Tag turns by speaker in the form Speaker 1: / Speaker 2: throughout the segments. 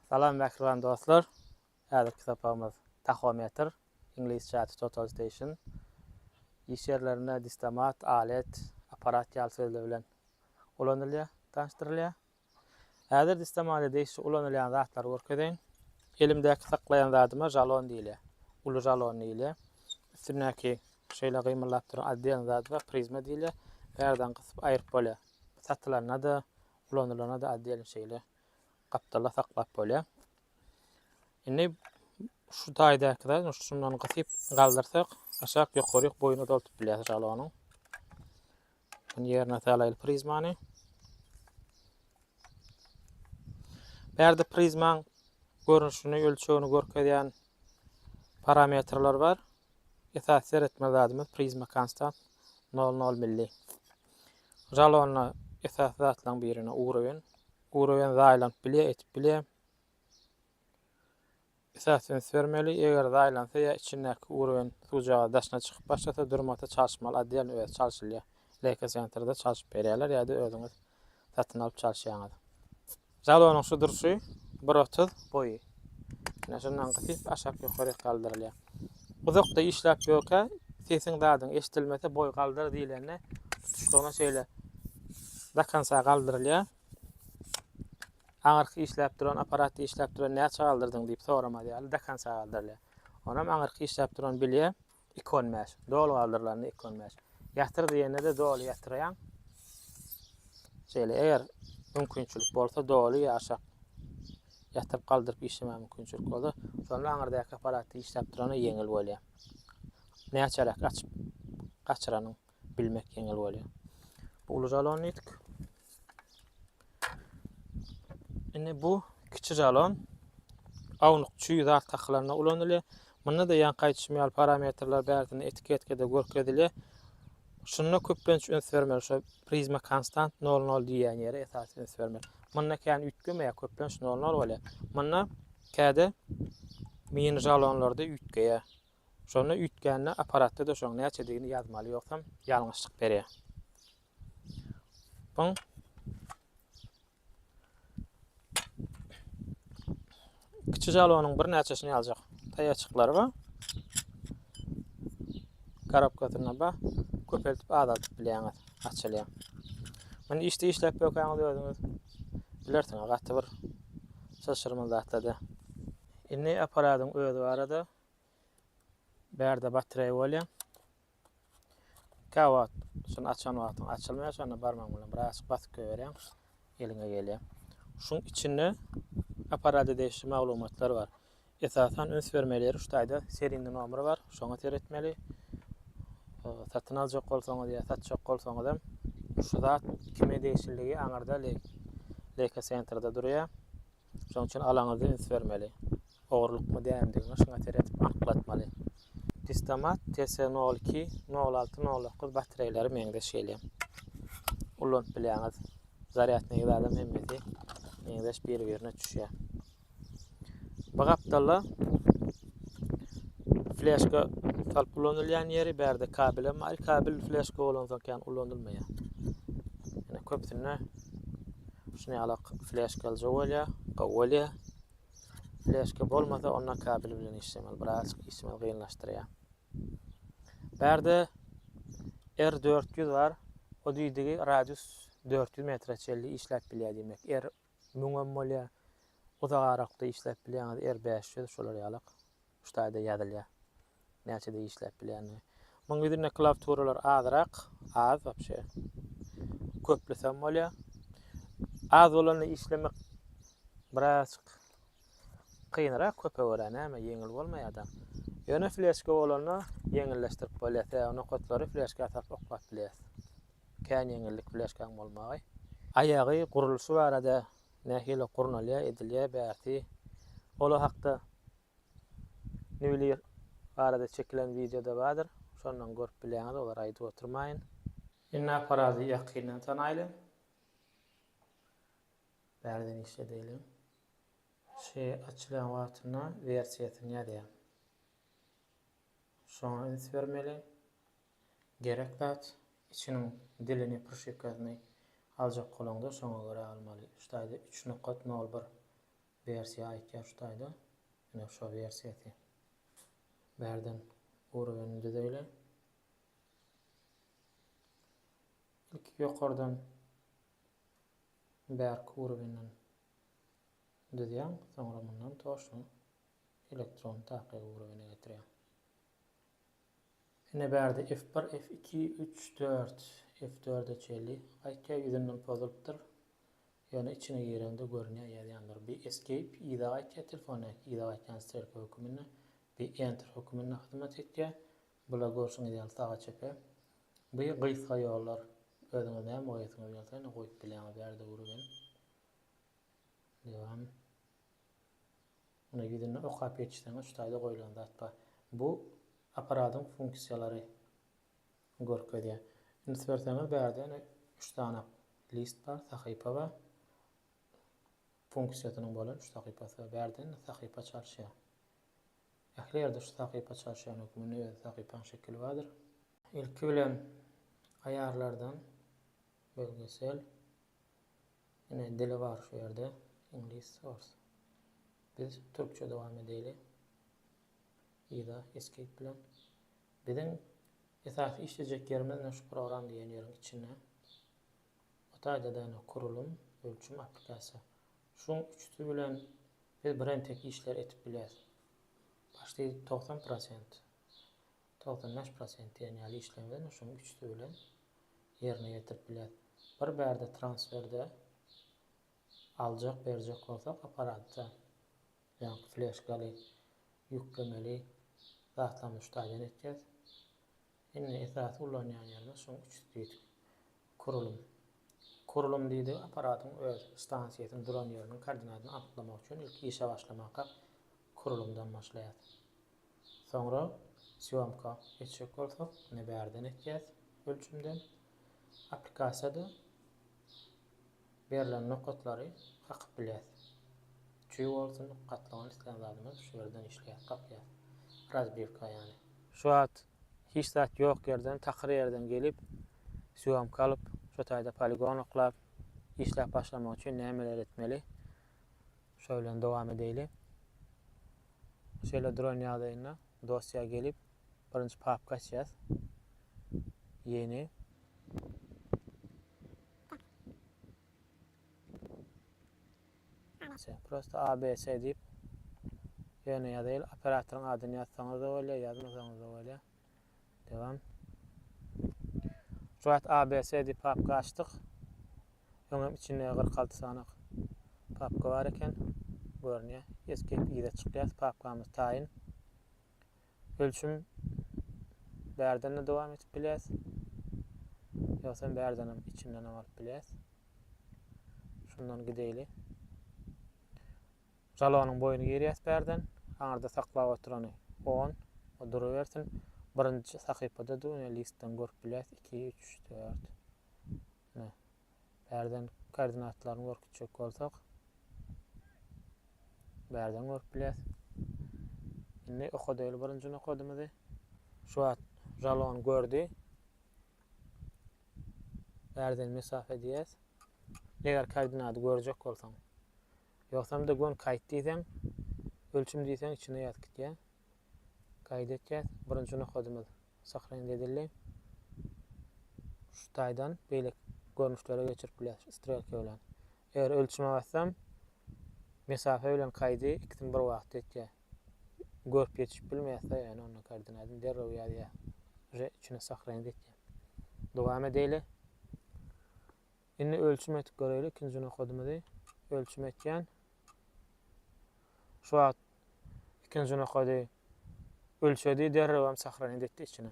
Speaker 1: Salam mähriban dostlar! Häzirki sapagymyz Tahometr, iňlisçe ady Total Station, iş ýerlerinde distomat, alet, apparat ýaly sözler bilen ulanylýar, tanyşdyrylýar. Häzir distomada degişli ulanylýan zatlary görkezeýin. Elimdäki saklaýan zadyma žalon diýilýär. Uly žalon diýilýär. Üstündäki şeýle gymyldap duran oddelny zadyma prizma diýilýär. Bärden gysyp aýryp bolýar. Satylanda-da, ulanylanda-da oddelny şeýle. gapdalda saklap bolýar. Indi şu taýdaky zat şundan gysyp galdyrsak, aşak ýokary boýuna doldup bilýär jalonyň. Bunu ýerine salaýyl prizmany. Bärde prizmaň görnüşini, ölçegini görkezýän parametrler bar. Esasy seretme zadymyz prizma konstant nol nol milli. Jalonda esasy zatlaryň birine urowen. Urowen zaýlanyp bilýär, etip bilýär. Esasy üns bermeli, eger zaýlansa ýa içindäki urowen suwjaga daşyna çykyp başlasa durmasa çalşmaly otdelny özi çalşylýar. Leykosentrda çalşyp berýärler ýa-da özüňiz satyn alyp çalşýaňyz. Jalonyň şu durşy bir otuz boýy. Ine şundan gysyp aşak ýokaryk galdyrylýar. Uzakda işläp ýörkä sesiň zadyň eşdilmese boý galdyr diýlende tutuşlygyna şeýle dakansa galdyrylýar. Aňyrky işläp duran apparatda işläp duran näçe galdyrdyň diýip soramaz ýaly dakansa galdyrylýar. Onam aňyrky işläp duran bilýär. Iki on bäş. Doly galdyrylanda iki on bäş. Ýatyr diýende-de doly ýatyrýaň. Şeýle, eger mümkinçilik bolsa doly ýaşak ýatyryp galdyryp işlemäge mümkinçilik bolsa, şonda aňyrdaky apparatda işläp durana ýeňil bolýar. Näçeräk açyp gaçyranyň bilmek ýeňil bolýar. Bu uly jalon diýdik. Indi bu kiçi jalon awnuk çüý zat takylanda ulanylýar. Munda da ýaňky aýdyşym ýaly parametrler bärsinde etiketkada görkezilýär. Şunda köplenç üns bermeli şu prizma konstant 0-0 diýýän ýere esasy üns bermeli. Munda kän üýtgemeýär, köplenç 0-0 bolýar. Munda käde mini jalonlarda üýtgeýär. Şonda üýtgände apparatda da şoň näçedigini ýazmaly ýogsam ýalňyşlyk berýär. Soň kiçi jalonyň bir näçesini ýaljak. Taýaçyklary bar. Garapkasyna bar. Köpeltip azaltyp bilýäňiz. Açylýar. Muny işde işläp bökäňiz özüňiz bilersiňiz gaty bir şaşyrmaly zatda. Indi apparatyň özi barada Bärde batreý bolýar. Käwagt şuny açan wagtyň açylmaýar, şonda barmagyň bilen birazçyk basyp goýberýär. Eliňe gelýär. Şuň içinde apparata degişli maglumatlar bar. Esasan üns bermeli ýeri şu taýda seriýny nomer bar. Şoňa seretmeli. Satyn aljak bolsaňyz ýa satjak bolsaňyz hem şu zat kime degişliligi aňyrda Leica Center'da durýar. Şonuň üçin alaňyza üns bermeli. Ogurlykmy dämdigini başyňa seredip anyklatmaly. Distomat TS02, 06, 09 batreýleri meňzeş gelýär. Ulanyp bilýäňiz. Zarýadnygy zadam hemmesi meňzeş bir-birine düşýär. Bu gapdalda fleşka salyp ulanylýan ýeri bärde kabel hem bar. Kabel fleşka bolansoň kän ulanylmaýar. Ýöne köpüsinde Şuny alak fleşka alja bolýa, gowy bolýa. Fleşka bolmasa onda kabel bilen işlemeli, biraz işlemeli gynlaşdyrýa. Bärde R400 bar. O diýdigi radius 400 metre çelli işläp bilýä diýmek. R 1000 hem bolýa. Uzak aralykda işläp bilýäňiz R500 şolar ýalak. Şu taýda ýazylýar. Näçede işläp bilýändigi. Muň ýüzünde klawturalar azyrak, az wapşe. Köplesem bolýar. Az bolanda işlemek birazjyk kynrak, köpe görä näme ýeňil bolmaýar-da. Ýöne fleşka bolanda ýeňilleşdirip bolýar. Sebäbi nokatlary fleşka salyp oklap bilýäs. Kän ýeňillik fleşkaň bolmagy. Aýagy gurluşy barada Nähili gurnalýar edilýär bärsi ola hakda Nüwlir barada çekilen wideoda bardyr şondan görüp bilýäňiz olary aýdyp oturmaýyn. Indi apparaty ýakyndan tanaýly. Bärden işledeli. Şy açylýan wagtynda wersiýasyny ýazýar. Şoňa üns bermeli. Gerek zat, içiniň dilini, prşipkasyny aljak bolaňda şoňa görä almaly. Şu taýda üç nokat nol bir wersiýa aýtýar şu taýda. Ine şo wersiýasy. Bärden urowenini düzeýli. Ilki ýokardan bärki urowenden düzýäň, soňra mundan to şu elektron takygy urowene getirýäň. Ine bärde F bir F iki üç dört F dörde çenli gaýtýar ýüzünden pozulypdyr ýöne içine gireňde görünýär ýazýanlar bir escape yza gaýtýar telefon näki yza gaýtýan strelka höküminde bir enter höküminde hyzmat etýär bular görşüňiz ýaly saga çepe bir gysga ýollar özüňiz näme goýasyňyz gelse ine goýup bilýäňiz bärde urugen dewam. Muny ýüzünde okap geçseň üstaýda goýlan zat bar. Bu apparadyň funksiýalary görkezýär. Üns berseňiz bärde ýene üç sany list bar, sahypa bar. Funksiýasynyň bolan üç sahypasy bar. Bärde indi sahypa çalyşýar. Ähli ýerde şu sahypa çalyşýan hökmünde öz sahypaň şekili bardyr. Ilki bilen aýarlardan bölgesel Ine dili bar şu ýerde iňlis ors. Biz türkçe dowam edeyli. Yza escape bilen. Biziň esasy işlejek ýerimiz ine şu program diýen ýeriň içinde. Bu taýda da ine kurulum, ölçüm, applikasiýa. Şuň üçüsi bilen biz birentek işler edip bileris. Başti togsan prosent. Togsan bäş prosent diýen ýaly işleňden şuň üçüsi bilen ýerine ýetirip bilýäs. Bir bärde transferde aljak berjek bolsak apparatda ýaňky fleşkaly ýüklemeli zatlaryny üçtaýdan etýäs. Indi esasy ulanýan ýerimiz şuň üçüsi diýdik. Kurulum. Kurulum diýdigi apparatyň öz stansiýasynyň duran ýeriniň koordinatyny anyklamak üçin ilki işe başlamaka kurulumdan başlaýas. Soňra sýomka etjek bolsak, ine bärden etýäs ölçümden. Applikasiýada berlen nokatlary kakyp bilýäs. Çüý bolsun, gatlagyn islän zadymyz şu ýerden işleýär, kakýar. Razbiwka ýaly. Şu wagt hiç zat ýok ýerden, takyr ýerden gelip, sýomka alyp, şu taýda poligon oklap, işläp başlamak üçin nämeler etmeli? Şo bilen dowam edeýli. Şeýle duran ýagdaýynda dosýa gelip, birinji papka açýas. Ýeni. Prosta ABC diýip, ýöne ýazaýyl, operatoryň adyny ýazsaňyz-da bolýar, ýazmasaňyz-da bolýar. Devam. Juwat A, B, C diýip papka açdyk. Öňem içinde 46 sanak papka bar eken. Görünýär. Escape yza çykýas. Papkamyz taýyn. Ölçüm bärden de dowam etip bilýäs. Ýogsam bärden hem içinden hem alyp bilýäs. Şundan gideýli. Jalonyň boýuny girýäs bärden, aňyrda saklap oturany on, o durubersin, birinji sahypada-da ine listden görüp bilýäs, iki, üç, dört. Ine, bärden koordinatlaryny görkezjek bolsak, bärden görüp bilýäs. Indi okadaýly birinji nokadymyzy. Şu wagt jalon gördi. Bärden mesafe diýýäs. Eger koordinaty görjek bolsaň, Ýogsam-da gön kaýt diýseň, ölçüm diýseň içine ýatyp gitýä. Gaýda etýäs, birinji nokadymyz syhrynda edildi. Şu taýdan beýleki görnüşlere geçirip bilýäs şu strelka bilen. Eger ölçüme bassam, mesafe bilen kaýdy ikisini bir wagtda etýä. Görüp ýetişip bilmeýäs-de ýöne onda koordinatyny derrew ýazýa. Uje içine syhrynda etýän. Dowam edeýli. Indi ölçüm edip göreýli ikinji nokadymyzy ölçüm etýän. Şu wagt ikinji nokady ölçedi derrewem sahranit etdi içine.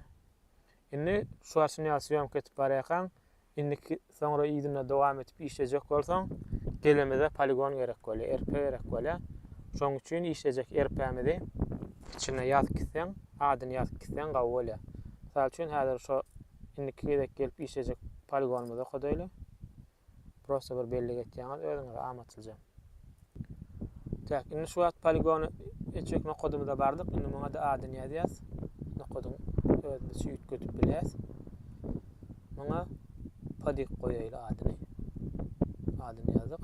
Speaker 1: Indi şu açyny ýaly syýomka edip barýarkaň indiki soňra yzyna dowam edip işlejek bolsaň gelemize poligon gerek bolýar RP gerek bolýar. Şoň üçin işlejek RP-mizi içine ýazyp gitseň adyny ýazyp gitseň gawy bolýar. Mysal üçin häzir şu Indiki gezek gelip işlejek poligonymyz okadaýly. Prosta bir bellik etýäňiz özüňize amatlyja. Täk, indi şu wagt poligony etjek nokadymyza bardyk. Indi muňa-da adyny ýazýas. Nokadyň özümiz üýtgedip bilýäs. Muňa podik goýaýly adyny. Adyny ýazdyk.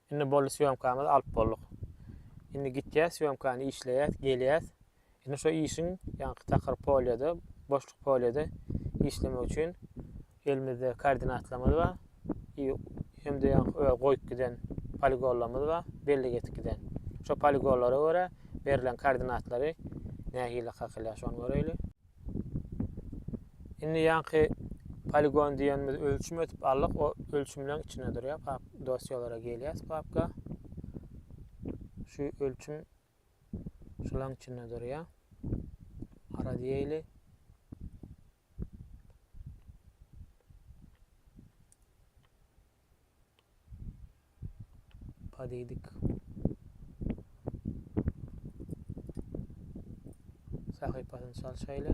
Speaker 1: Indi boldy sýomkamyzy alyp bolduk. Indi gitýäs sýomkany işleýäs, gelýäs. Indi şo işiň ýaňky takyr polýada, boşluk polýada işlemek üçin elimizde koordinatlarymyz bar. I hem-de ýaňky öz goýup giden poligonlarymyz bar, bellik etip giden. Şo poligonlara görä berlen koordinatlary nähili kakylýar şony göreýli. Indi ýaňky poligon diýenimiz ölçüm ötüp aldyk. O ölçümleň içinde durýar. Pap dosýalara gelýäs papka. Şu ölçüm şulaň içinde durýar. Ara diýeli. Padidik. Sahypasyny çalşaýly.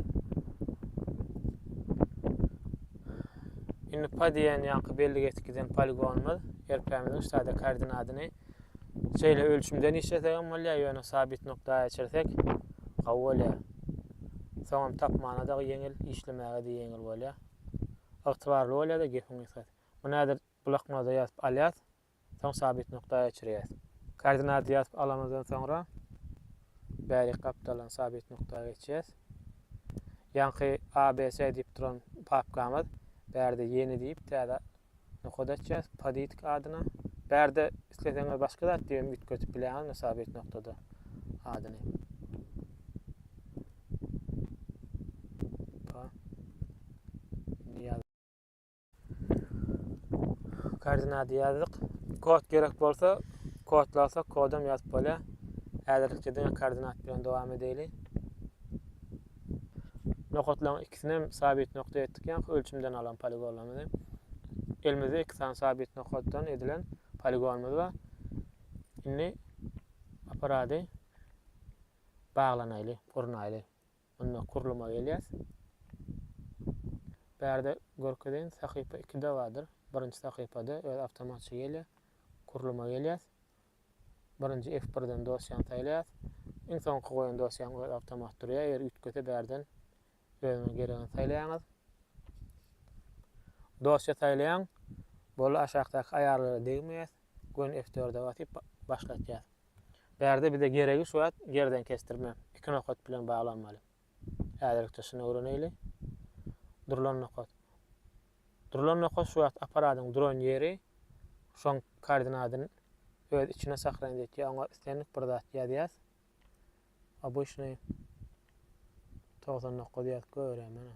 Speaker 1: Indi pa diýen ýaňky belli geçip giden poligonymyz erpämiziň ştada koordinatyny şeýle ölçümden işlesek hem bolýar, ýöne sabit nokta geçirsek gawy bolýar. Soňam tapmana da ýeňil, işlemäge de ýeňil bolýar. Ygtybarly bolýar-da gepiň gysgasy. Muny häzir bloknoda ýazyp alýas, soň sabyt nukdaýa geçirýäs. Koordinaty ýazyp alamyzdan soňra bärik gapdalyny sabyt nukdaýa geçýäs. Ýaňky ABC diýip duran papkamyz bärde ýeni diýip täze nokat açýas Poditik adyna. Bärde isleseňiz başga zat diýip hem üýtgedip bilýäňizmi sabyt nukdada adyny. Koordinaty ýazdyk. Kod gerek bolsa, kod lazsa kodam ýazyp bolýar. Häzirlikçe diňe koordinat bilen dowam edeli. Nokatlaryň ikisini hem sabit nokta etdik, ýa ölçümden alan poligonlarymyzy. Elimizde iki sany sabit nokatdan edilen poligonymyz bar. Indi aparady baglanaýly, gurnaýly. Onda gurluma gelýäs. Bärde görkezeýin sahypa ikide bardyr. Birinji sahypada öz awtomatça gelýär. Gurluma gelýäs. Birinji F birden dosýany saýlaýas. Iň soňky goýan dosýaň öz awtomat durýar. Eger üýtgese bärden özüňe geregini saýlaýaňyz. Dosýa saýlaýaň. Boldy aşakdaky aýarlara degmeýäs. Gön F dörde basyp başlatýas. Bärde bize geregi şu wagt gerden kesdirme iki nokat bilen baglanmaly. Häzirlikçe şuny öwreneýli. Durlan nokat. Durlan nokat şu wagt apparadyň duran ýeri şoň koordinadyny öz içine sahraýyn etýär. Oňa islendik bir zat ýazýas. Obyçnyý togsan dokuz ýazyp göräýmäne.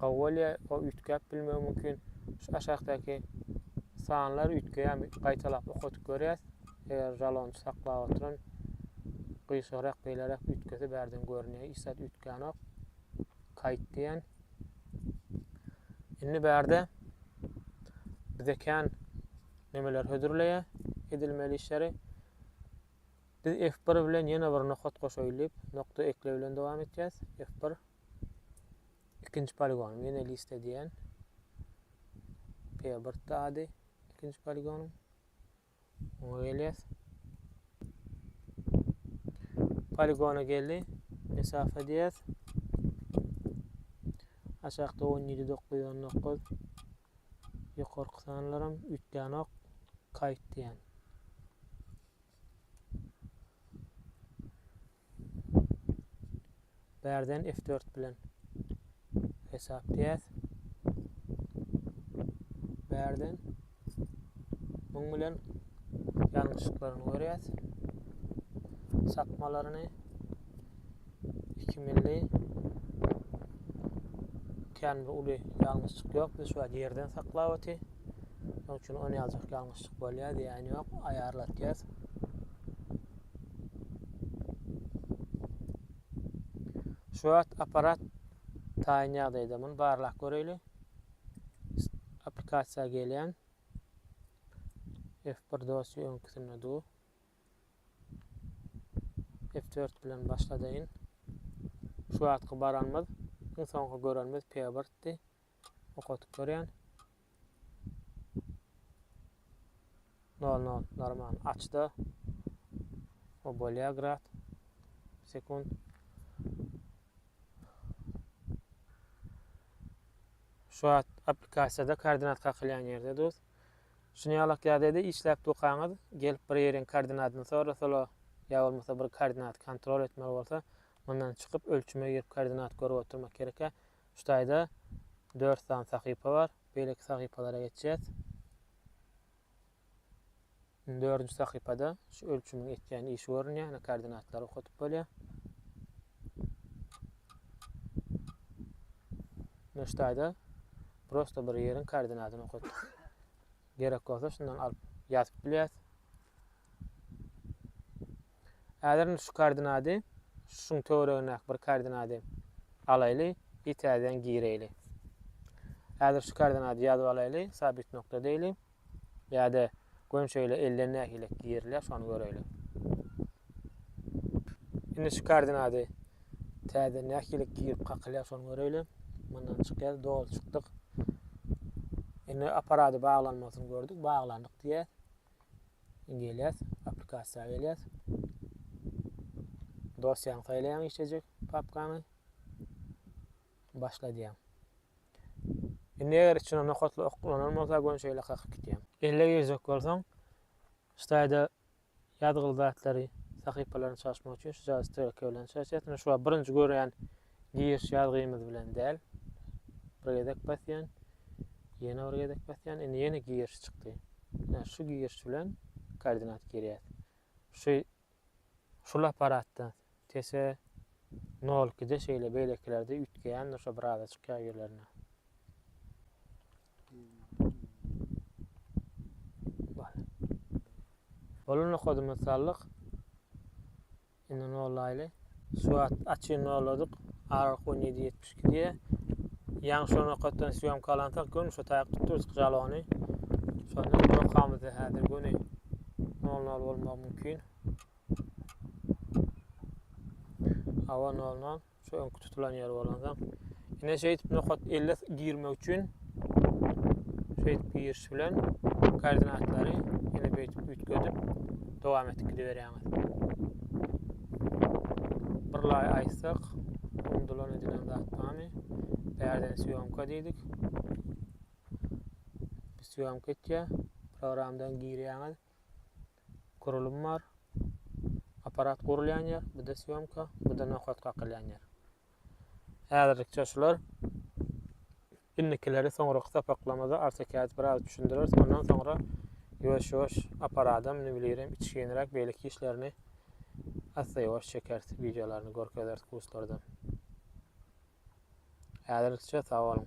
Speaker 1: Gawolýa o üýtgäp bilmegi mümkin. Şu aşakdaky sanlar üýtgeýän gaýtalap okadyp görýäs. Eger jalonçy saklap oturan gyşarak beýleräk üýtgese bärden görünýär. Hiç zat üýtgänok. Kaýt diýen. Indi bärde bize kän nemeler hödürleýär edilmeli işleri. Biz F-bir bilen ýene bir nokat goşaýyl diýip, nokta ekle bilen dowam etýäs. F-bir. Ikinji poligonym ýene list edýän. P-birtdi ady ikinji poligonym. Oňa gelýäs. Poligona geldi. Mesafa diýýäs. Aşakda 17 919. Ýokarky sanlarym üýtgänok. Kayt diýen. Bärden F dört bilen hesapdýäs. Bärden muň bilen ýalňyşyklaryny görýäs. Sapmalaryny iki milli kän bir uly ýalňyşyk ýok. Biz şu wagt ýerden saklap oty. Şonuň üçin ony ýaljak ýalňyşlyk bolýar diýýän ýok, aýarlatýas. Şu wagt apparat taýyn ýagdaýda muny barlap göreýli. Applikasiýa gelýän. F1 dosýa öňküsinde du. F4 bilen başladaýyn. Şu wagtky baranymyz, iň soňky görenimiz P1-di. okadyp görýän. Nol nol normal açda. O bolýa grad sekund. Şu wagt applikasiýada koordinat kakylýan ýerde duz. Şuny ýalak ýagdaýda işläp dokaňyz, gelip bir ýeriň koordinatyny sorasalar, ýa bolmasa bir koordinaty kontrol etmeli bolsa, mundan çykyp ölçüme girip koordinat görüp oturmak gerekýär. Şu taýda dört sany sahypa bar. Beýleki sahypalara geçýäs. Indi dördünji sahypada şu ölçümiň etýän işi görünýär. Ýöne koordinatlary okadyp bolýar. Ýöne şu taýda prosta bir ýeriň koordinatyny okatdyk. Gerek bolsa şundan alyp ýazyp bilýäs. Häzir indi şu koordinady, şuň töweregindäki bir koordinady alaýly i täzeden gireýli. Häzir şu koordinady ýazyp alaýly, sabit nokta deýli. Ýa-da gön şeýle elden nähilek girilýär, şony göreýli. Indi şu koordinady täzeden nähilek girip kakylýar, şony göreýli. Mundan çykýar, doly çykdyk. Indi aparady baglanmasyny gördük, baglandyk diýýär. Indi gelýäs, applikasiýa gelýäs. Dosýaňy saýlaýaň işlejek papkany. Başla diýýäň. Indi eger içine nokatly ok ulanan bolsa göni şeýle kakyp gitýäň. Elle girjek bolsaň, Staýda ýazgyly zatlary, sahypalaryny çalyşmak üçin şu jagy strelka bilen çalyşýarsyň. Şu wagt birinji görýän Giriş ýazgymyz bilen däl. Bir gezek basýan. Ýene bir gezek basýan. Indi ýene giriş çykdy. Ýa şu giriş bilen koordinat girýär. Şu şul apparatda tese 0 2 de şeýle beýlekilerde üýtgeýändir şo bir aza çykýar ýerlerine. Bol. Bolan nokadymy saldyk. Indi nollaýly. Swat açyny nolladyk. Aralyk on ýedi ýetmiş iki diýýär. Ýaňy şo nokatdan syýomka alansoň göni şo taýak tutdurdyk jalony. Şonda nokamyzda häzir göni nol nol bolmagy mümkin. Awa nol nol. Şu öňki tutulan ýer bolansoň. Ine şeýdip nokat 50 girmek üçin şeýdip giriş bilen koordinatlary ine beýdip üýtgedip dowam etdik gidiberýäňiz. Bir laý aýtsak, undulan edilen zat barmy? Bärden syýomka diýdik. Syýomka etýär. Programdan girýäňiz. Gurulym bar. Apparat gurulýan ýer, bu-da syýomka, bu-da nokat kakylýan ýer. Häzirlikçe şular. Indikileri soňraky sapaklamada AutoCAD biraz düşündireris. Ondan soňra ýuwaş-ýuwaş apparadam, ne bilýerim, içginräk beýleki işlerini assa ýuwaş çekeris, wideolaryny görkezeris kurslardan. Häzirlikçe sag boluň.